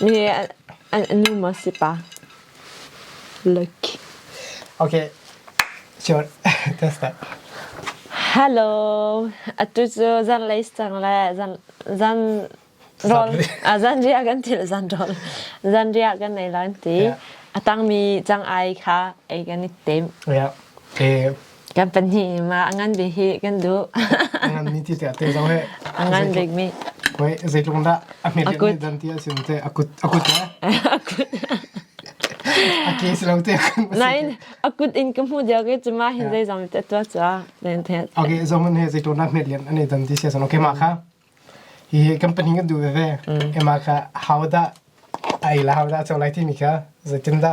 Nu maw si pa? Okay. Sure. That's that. Hello. Atu cu zanlei cang le zan zan rol zan ria kan til zan rol zan ria kan nei loin ti atang mi chang ai kha ei kan i tem. Yeah. Eh kan pahnih ma a ngan bik hi kan duh a ngan mi ti te te zong he a ngan bik mi hoi zeitlung dah a hmet mi dan ti a sin te a kut a kut le a kut a case lo te nain a kut in ka hmu dia ke chuma hin dei zam te tua cha den the okay zo mun he zeitlung dah hmet lian ani dan ti sia san okay ma kha hi kan pahnih kan du ve e ma kha how da ai la how da chau lai ti mi kha zeitin da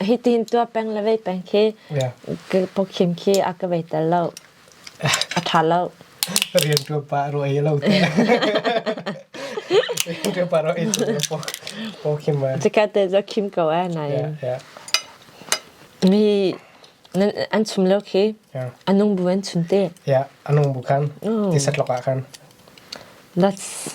Hitin tuah peng le vei peng khi pokhin khi a ka vei tel lo. A ṭha lo. Rian tuan pa ro ei lo te. Rian pa ro ei tu po po khim ma. Cika te zo khim ko ai na. Mi an chum lo khi anung bu an chun te. Ya anung bu kan. Ti satloka kan. That's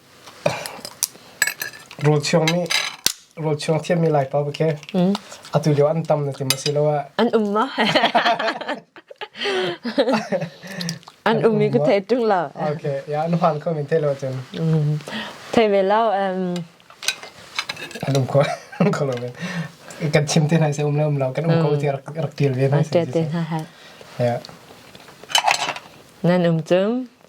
Rawlchuang thiammi Laipa va khi atu lio ah an tam na ti maw asiloah an um maw? An um i ka thei ṭung lo. Okay, yeah, an han kho min thei lo cun. Thei ve lo. An um kho an kho lo men. Kan chim te nai se um lo um lo kan um kho ti rak tiel ve nai se. Ṭe te hna ha. Yeah. Nan um cum.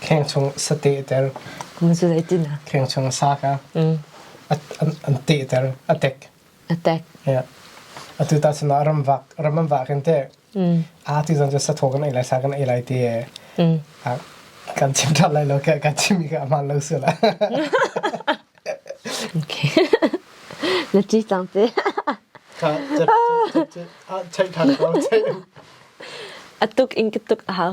Kheng chung sa tehter. Kheng chung sa kha an tehter, a tek. A tek. Atu ta sinah ram vak, ram an vak in te. A ti zan cu sa tho kan ei lai, sa kan ei lai te. Kan chim ṭhat lai lo, kan chim i ka aman lo sila. Okay. Na ci cang te. Ka, chai ṭhan ko, chai. A tuk in ka tuk a hau.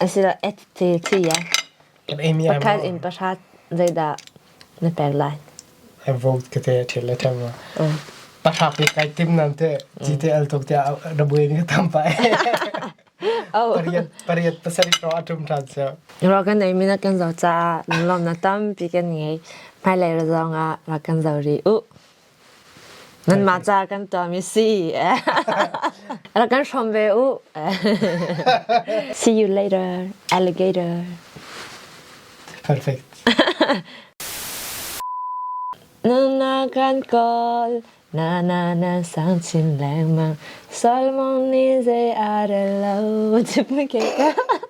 Asilo et te si ai. Pathan in pahra zeidah na pek lai? Vote kete thil le them. Pahra pe kai tim nan te GTL tok te rabu ni tam pa. Oh. Pariat pariat pasari ro atum than se. Ro kan nei mina kan zo cha lom na tam pi kan ngai. Mai lai ra zong a ra kan zo ri u. Nanmah ca kan ṭuan i si rak kan hrawm ve u. See you later, alligator. Perfect. Nana kan kawl, nana na sang chin lengmang, Solomon ni zei are lo, chip na ke ka.